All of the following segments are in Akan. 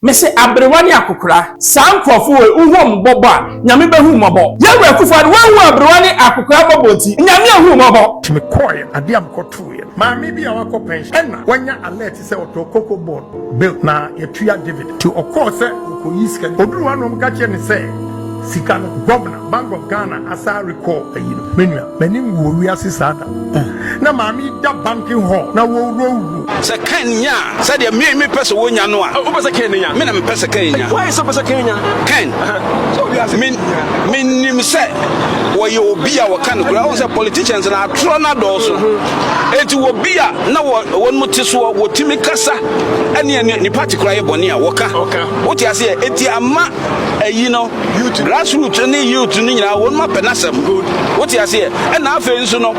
Mese aberewa ne akokora. Saa nkorɔfo wei wo hu ɔmo bɔbɔ a Nyame bɛ hu wo mɔbɔ. Yawurah Akufo-Addo wahu aberewa ne akokora bɔbɔ nti Nyame ahu wo mɔbɔ. Me kɔɔɛ adeɛ a me kɔ tooɛ no maame bi a wakɔ pension ɛna wanya alert sɛ ɔtɔɔ cocoa board bill na yɛtua dividend nti ɔkɔɔ sɛ ɔkɔyi sika no ɔduruu hɔ a na ɔmo ka kyerɛ no sɛ sika no gɔvena Bank of Ghana asan rekɔ ayi no. Me nua, m'ani ngu wɔ wiase saa da. Na maame yi da banking hall na wɔwurawura. Sɛ Cain nya sɛdeɛ me me pɛ sɛ wɔnya no a. Wopɛ sɛ Cain nya? Me na mepɛ sɛ Cain nya. Why sɛ wopɛ sɛ Cain nya? Cain, me me nim sɛ wɔyɛ obi a wɔka no kura. Wohu sɛ politicians no atorɔ no adɔɔso. Enti wɔ bi a na wɔ wɔn mu te soɔ wɔtumi kasa ɛne ne party kura yɛ bɔne a wɔka. Wote aseɛ? Enti ama. ɛyi no grass root ne youth no nyinaa wɔn ma pɛ n'asɛm wote aseɛ ɛna afei nso no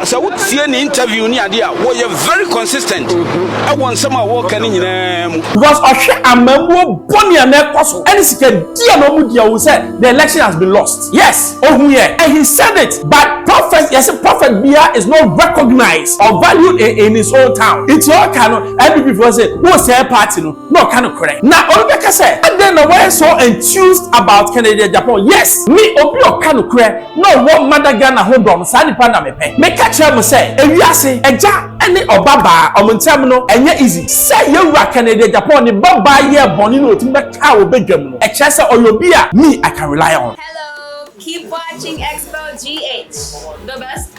sɛ wotie ne interview ne adeɛ a wɔyɛ very consistent ɛwɔ nsɛm a wɔka ne nyinaa mu because ɔhwɛ amamuo bɔne a na ɛkɔ so ɛne sika di a na ɔmu di a ɔhu sɛ the election has been lost yes ɔhu yɛ and he said it but prophet yɛsɛ prophet bia is not recognized or valued in, in his own town nti ɔka no ɛbibi fo sɛ wosɛɛ party no na ɔka nokorɛ. Na obi bɛka sɛ, Adɛn na woayɛ so enthused about Kennedy Agyapong? Yes! Me, obi a ɔka nokorɛ na ɔwɔ Mada Ghana ho dɔ no, saa nipa no na mepɛ. Meka kyerɛɛ mo sɛ, ewiase, agya ne ɔba baa, wɔn ntam no, ɛnyɛ easy. Sɛ yɛn Wura Kennedy Agyapong ne ba baa yɛɛ bɔne na wɔtumi bɛkaa wɔ badwam no, ɛkyerɛ sɛ ɔyɛ obi a me, I can rely on. Hello, keep watching Expo GH, the best.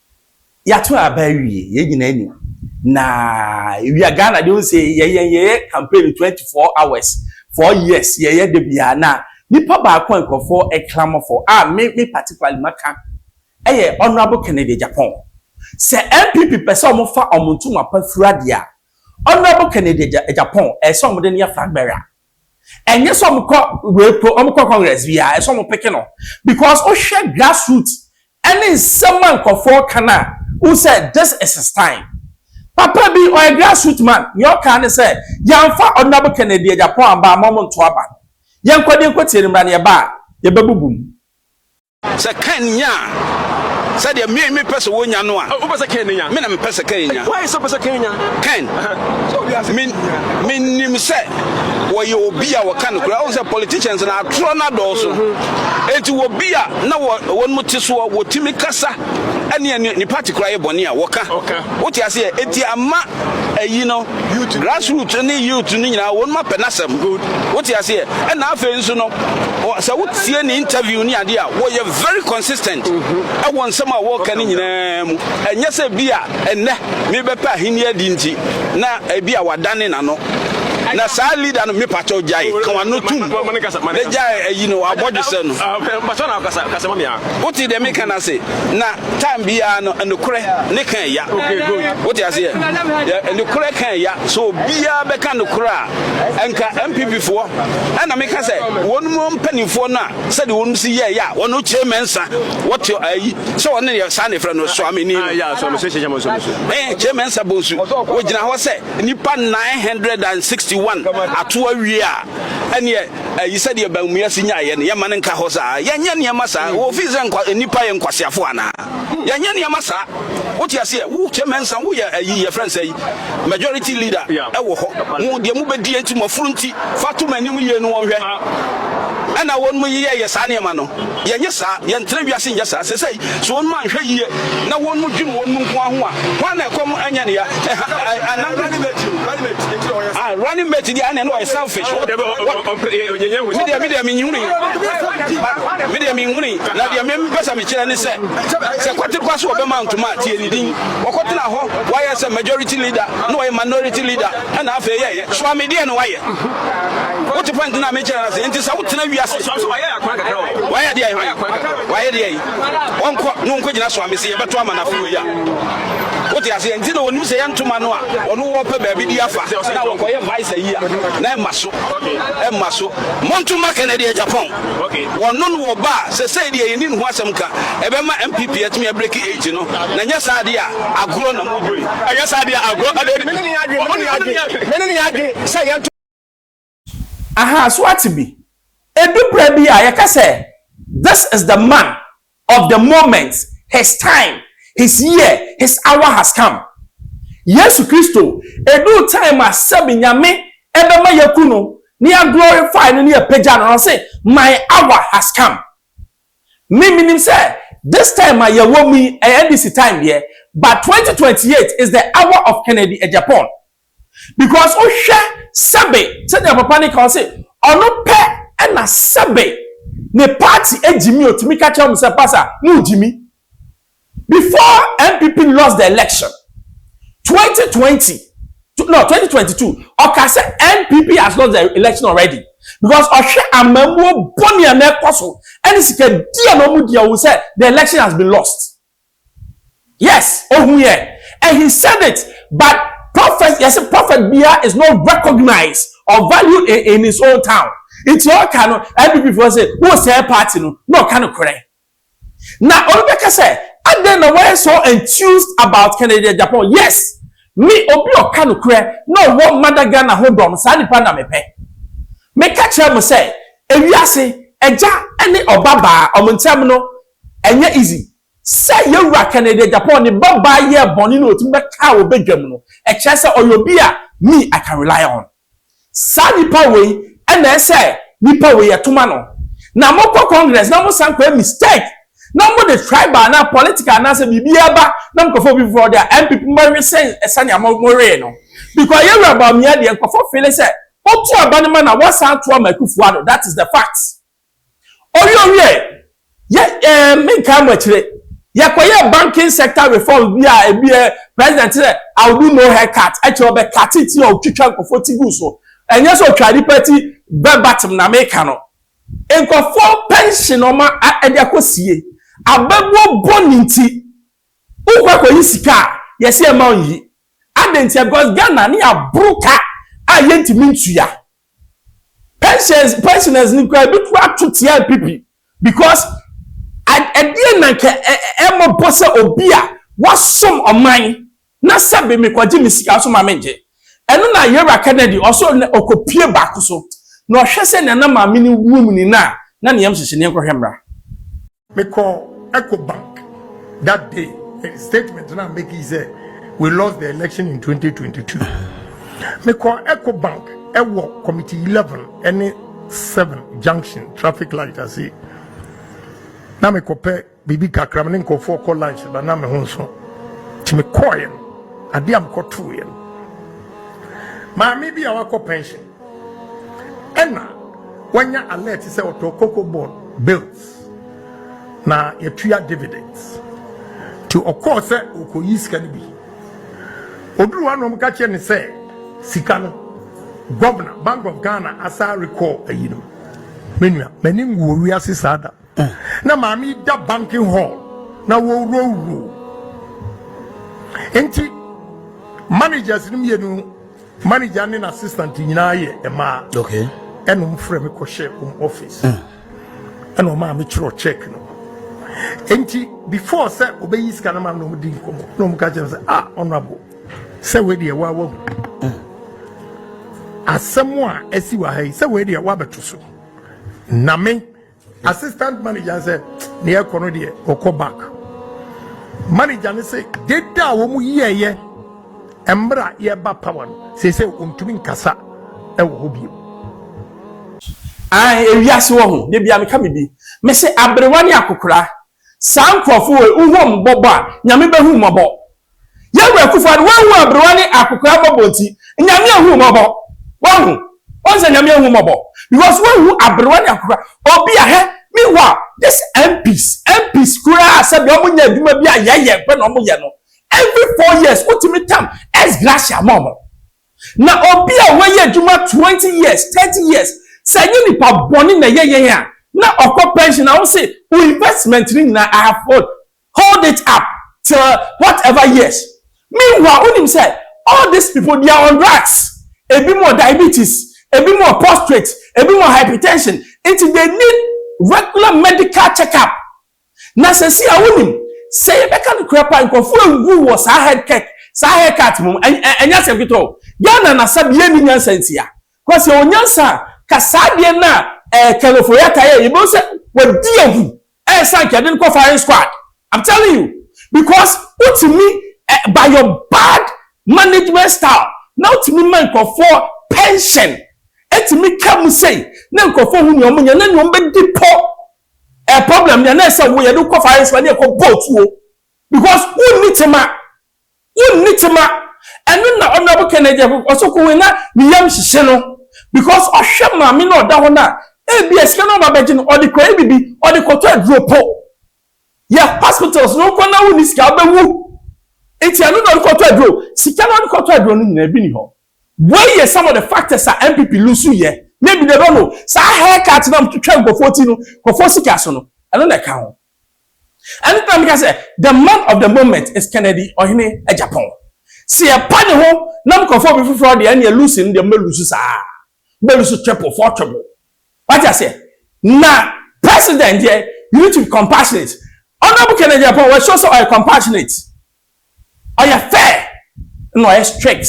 Yɛato aba awie, yɛn nyinaa nim. Na ewia Ghana deɛ ɔnsɛ yɛyɛ yɛyɛ campaign 24 hours, four years yɛyɛ da biara. Na nipa baako a nkurɔfoɔ ɛklamo fɔ a me me particularly maka ɛyɛ Honourable Kennedy Agyapong. Sɛ NPP pɛ sɛ wɔn fa wɔn ntoma pa fira deɛ a, Honourable Kennedy Agyapong ɛsɛ wɔn de no yɛ flag bearer. ɛnyɛ sɛ wɔkɔ wei po wɔkɔ congress bi a ɛsɛ wɔn peke no because wohwɛ grassroot ɛne nsɛm a nkurɔfoɔ ka no a wohu sɛ this is his time papa bi ɔyɛ grassroot man nea ɔka ne sɛ yɛamfa ɔdinabo kennedy agyapɔn aba ama wɔn nto aba yɛnkɔ deɛ nkɔtie no mmra no yɛba a yɛbɛbubu mu. Sɛ Kain nyaa sɛdeɛ me mepɛ sɛ wɔnya no a. Ah, wopɛ sɛ Kain nya? Me na mepɛ sɛ Kain nya. Why sɛ wopɛ sɛ Kain nya? Kain, menim sɛ wɔyɛ obi a wɔka no kura. Ɔhu sɛ politicians na atorɔ no adɔɔso. Mhm. Enti wɔbi a na wɔn te soɔ wɔtumi kasa ɛne ne party kura yɛ bɔne a wɔka. Wote aseɛ? Enti ama ayi no Grass root ne youth no nyinaa wɔn ma pɛ n'asɛm wote aseɛ ɛna afei nso no sɛ wotie ne interview ne adeɛ a wɔyɛ very consistent mm-hmm. ɛwɔ nsɛm a wɔka ne nyinaa mu ɛnyɛ sɛ bi a ɛnɛ mebɛpɛ ahenni adi nti na ebi a wadane n'ano na saa leader no mepatɛ ɔgyae ka wano tom na gyae ayi no abɔdwesɛ no wote deɛ meka no ase na time biara no nokorɛ ne ka ɛya wote aseɛ nokorɛ ka ɛya so obiara bɛka nokorɛ a nka mpp foɔ ɛna meka sɛ wɔnom mpanimfoɔ no a sɛdeɛ wɔnom si yɛ ɛya wɔno kyerɛ mɛnsa wɔte ayi sɛ wɔne yɛ saa ne frɛ no soameni no kyerɛ mɛnsa bonsu wɔgyina hɔ sɛ nnipa 961 ato awie a ɛneɛ Ayi sɛdeɛ bammua si nyaeɛ no, yɛmma no nka hɔ saa. Yɛnyɛ nneɛma saa. Wɔfiri sɛ nkwa, nnipa yɛ nkwaseafoɔ anaa? Yɛnyɛ nneɛma saa. Wote aseɛ? Wo kyɛ mɛnsa, woyɛ ayi, yɛfrɛ no sɛ yi, majority leader wɔ hɔ. Mo deɛ mobɛdie nti, mo afunu nti, fa to m'anim yie no wɔnhwɛ. Ɛna wɔnom yɛyɛ saa nneɛma no. Yɛnyɛ saa. Yɛntra wiase nyɛ saa. Sɛsɛi, sɛ wɔnom anhwɛ yie na wɔnom dwene wɔnom nko ara ho a, hwan na ɛkɔm nyɛ no ya? Ɛha, ɛ, anaa. Ah running mate deɛ ɛna ɛna ɔyɛ selfish. Wo deɛ medeɛ medeɛ menhunu yi. Medeɛ menhunu yi. Na deɛ me mpɛ sɛ mekyerɛ ne sɛ sɛ kwate kwa so ɔbɛma ntoma a tie ne din. Ɔkɔtena hɔ wayɛ sɛ majority leader na ɔyɛ minority leader ɛna afei yɛyɛ. Soa me deɛ na wayɛ. Wote pɔnte na mekyerɛ no ase nti sɛ wotena wiase. Wayɛ deɛ wayɛ deɛ yi. Ɔnkɔ na ɔnkɔgyina soa me se yɛbɛto ama no afei wei a. Wote aseɛ? Nti na wɔnim sɛ yɛ ntoma no a wɔno wɔpɛ baabi de afa na wɔkɔyɛ vice ayi a, na ɛmma so. Ɛmma so. Montoma kɛnɛ deɛ Japan, wɔno no wɔba a, sɛsɛi deɛ yɛnni ne ho asɛm ka, ɛbɛma MPP atumi abreki age no, na nyɛ saa deɛ a, agorɔ na mobɔ yi. Ɛnyɛ saa deɛ a, agorɔ na mobɔ yi. Mene ne yɛ adwene sɛ yɛ ntoma. Ahaa, so woate bi? Edu berɛ bi a, yɛka sɛ, This is the man of the moment, his time, his year, his hour has come. Yesu Kristo, eduu time a sɛbe Nyame ɛbɛma yɛaku no, na yɛaglorify no, na yɛapagya no no, ɔse, My hour has come. Me, menim sɛ, this time a yɛwɔ mu yi, ɛyɛ NDC time deɛ, but 2028 is the hour of Kennedy Agyapong. because wohwɛ sɛbe sɛdeɛ papa no ka ɔse ɔno pɛ ɛna sɛbe ne party agyimi ɔtumi ka kyerɛ mo sɛ pasa mo gyimi before NPP lost the election 2020 no 2022 ɔka sɛ NPP has lost the election already because ɔhwɛ amamuo bɔne a na ɛkɔ so ɛne sika di a na ɔmo di a ɔwɔ sɛ the election has been lost. Yes ohun yɛ and he said it but prophet yɛse prophet bia is not recognized or valued in in his own town nti ɔka no NPP foɔ se wo sɛɛ party no na ɔka no korɛ na obi bɛka sɛ adɛn na wɔyɛ so enthused about Kennedy Agyapong yes me obi ɔka no korɛ na ɔwɔ mada Ghana ho dɔ no saa nipa na mepɛ meka kyerɛ mo sɛ ewiase agya ne ɔba baa ɔmo ntɛm no Ɛnyɛ easy. Sɛ Yewura Kennedy Agyapong ne ba baa yɛɛ bɔne na otumi bɛkaa wɔ badwam no, ɛkyerɛ sɛ ɔyɛ obi a me I can rely on. Saa nipa wei na ɛsɛ nipa wei ɛtoma no. Na mo kɔ Congress na mo san kɔ yɛ mistake na mo de tribal anaa political anaa sɛ biribi ɛba na mo kɔ fa obi foforɔ de a, NPP mo bɛwe sen sɛnea mo mo wee no. Because Yewura Bawumia deɛ nkorɔfoɔ feele sɛ, otu aba no ma na wasan ato ama Akufo-Addo, that is the fact. Ɔwiee ɔwiee, yɛ ɛɛ menkae mo akyire, yɛkɔyɛɛ banking sector reforms bi a ebi yɛ president te sɛ I will do no hair cut, ɛkyerɛ ɔbɛ cut ti a ɔtwitwa nkurɔfoɔ ti gu so, ɛnyɛ sɛ ɔtwa nipa ti bɛbatem na meka no. Nkurɔfoɔ pension ɔma ɛde akɔ sie, abɛbuo bɔ ne nti, wokɔ akɔyi sika a yɛse ɛma nyi. Adɛn ntia? Because Ghana ne yɛaboro ka a yɛntumi ntua. Pensions pensioners no kura ebi to ato tia NPP because ɛdeɛ na nka ɛmɔ bɔ sɛ obi a wasom ɔman na sɛbi mekɔgye me sika so ma mengye ɛno na Yera Kennedy ɔso na ɔkɔpie baako so na ɔhwɛ sɛ nana maame ne wuo mu ni na na ne yam hyehye ne nkɔhwɛ mmra. Me kɔ Eco Bank that day statement na make it say we lost the election in 2022. Me kɔ Eco Bank ɛwɔ committee 11 ɛne 7 junction traffic light ase. Na me kɔ pɛ bibi kakra me ne nkɔfoɔ kɔ lunch ba na me ho nso. Ti me kɔɔ yɛn adeɛ a me kɔ too yɛn. Maame bi a wakɔ pension. Ɛna wanya alert sɛ ɔtɔ cocoa board bills na yɛtua dividends. Nti ɔkɔɔ sɛ ɔkɔyi sika no bi. Ɔduru hɔ na wɔka kyerɛ ne sɛ sika no Governor, Bank of Ghana asa recall ayi no. Me nua, m'ani nguo wiase saa da. Na maame yi da banking hall na wɔwurowuro nti managers no mmienu manager ne n'assistant nyinaa yɛ mmaa ɛna wɔn frɛ me kɔhyɛ wɔn office mm. ɛna wɔn a me kyerɛ check no nti before sɛ obeyi sika no ma na wɔn di nkɔmɔ na wɔn ka kyerɛ sɛ ah honourable sɛ wei deɛ wawa mu mm. asɛm a ɛsi wɔ ha yi sɛ wei deɛ wabɛto so na me. Assistant manager sɛ ne ɛkɔ no deɛ ɔkɔ back. Manager ne sɛ deda a wɔn yɛɛyɛ mmra yɛba power no sɛ sɛ ɔntumi nkasa ɛwɔ hɔ bio. Ae ewiase wɔ ho, da bia meka me bi. Mese aberewa ne akokora, Saa nkorɔfo wei wo hom bɔbɔ a Nyame bɛhu wo mɔbɔ. Yɛn Wura Kuffo Addo woahu aberewa ne akokoraa mɔbɔ nti Nyame ahu wo mɔbɔ. Wahu? Wahu sɛ Nyame ahu wo mɔbɔ because woahu aberewa ne akokoraa. Obi a hɛ meanwhile this MPs MPs koraa sɛdeɛ wɔn nyɛ adwuma bi a yɛyɛ pɛ na wɔn yɛ no every four years wotumi tam ex gratia ma wɔn. Na obi a wayɛ adwuma twenty years, thirty years, sɛ ɛnyɛ nipa bɔne na ɛyɛ yɛn a, na ɔkɔ pension a, wo se wo investment no nyinaa I have hold, hold it up till whatever years. Meanwhile, wonim sɛ all these people they are on drugs. Ebi mo diabetes, ebi mo prostrate, ebi mo hypertension, nti they need regular medical check up. Na sɛsi a wonim, sɛ yɛbɛka nokorɛ pa a, nkorɔfoɔ awuwu wɔ saa head kirk, saa hair cut mu, ɛ, ɛ, ɛnyɛ asɛm ketewa o. Ghana na sa deɛ nni nyansa ntia. Kɔ sɛ yɛwɔ nyansa a, ka saa deɛ no a, ɛ, Ken Ofori-Atta yɛeɛ, yɛbɛhu sɛ wadi awu, ɛɛsan nka yɛde no kɔ firing squad. I'm telling you. Because wotumi, ɛ, by your bad management style, na wotumi ma nkorɔfoɔ pension, ɛtumi ka mu sei, na nkorɔfoɔ hu nea wɔnyɛ, na nea wɔbɛdi pɔ Eh problem nea na ɛsɛ wo yɛde wokɔ fa ayɛ sɛ ne ɛkɔ bɔ tuo because wonni tema wonni tema ɛno na honorable Kennedy ɔsɛ kɔ wei na ne yam hyehye no because ɔhwɛ maame na ɔda hɔ no a ebi a sika no ɔba bɛgye no ɔde kɔyɛ bibi ɔde kɔtɔ aduro po yɛ hospitals no wokɔ na wonni sika wobɛwu nti ɛno na ɔde kɔtɔ aduro sika na ɔde kɔtɔ aduro no nyinaa bi ni hɔ Wei yɛ some of the factors a NPP lose yɛ na ebi deɛ no saa hair cut na wɔtwitwa nkurɔfoɔ ti no nkurɔfoɔ sika so no ɛno na ɛka ho. Ɛno nti na meka sɛ the man of the moment is Kennedy Ɔhene Agyapong. Sɛ yɛpa ne ho nam nkurɔfoɔ bi foforɔ deɛ ɛneɛ lose no deɛ mobɛ lose saa ara. Mobɛ lose triple, four triple. Wate aseɛ? Na president deɛ you need to be compassionate. Honourable Kennedy Agyapong wa show sɛ ɔyɛ compassionate. Ɔyɛ fair na ɔyɛ strict.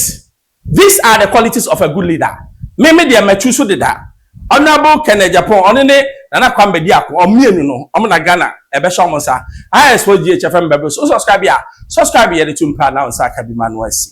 These are the qualities of a good leader. Me me deɛ matu so deda. Honourable Ken Agyapong, ɔno ne Nana Kwame Bediako, wɔn mmienu no, wɔn na Ghana ɛbɛhyɛ wɔn nsa. IS4GHFM bɛboro so. Wo subscribe a, subscribe yɛde to mpra na wo nsa aka bi ma no asi.